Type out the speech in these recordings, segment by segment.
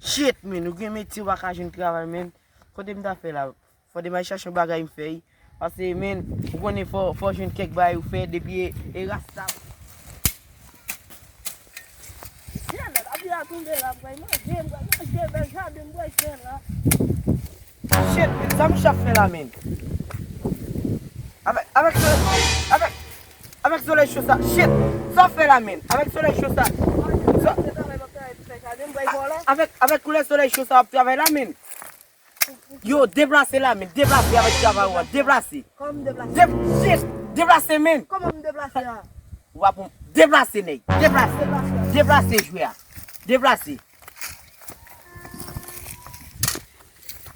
Shit men ou gen metye ou pa ka jwenn travay men Kote m ta fè la Fòde m al chache yon bagay m fè wi Pase men ou konnen fò ou jwenn kèk bagay ou fè depi e rasta Jeannot ap vin akounde la ap bay manje m bral manje bèl jaden m bwè jwen la Shit men sa Misha ap fè la men Avèk avèk avèk Avèk solèy cho sa Shit! Sa w fè la menm? Avèk solèy cho sa Sa w fè la menm? Avèk koulè solèy cho sa w ap travay la menm? Yo, deplase la menm! Deplase avèk travay ou an! Deplase! Kòman m deplase? Shit! Deplase menm! Kòman m deplase la? Ou pa pou m Deplase nèg! Deplase! Deplase jwè a! Deplase!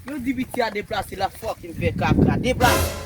Yo di piti a deplase l ap fòkinn fè kaka! Deplase!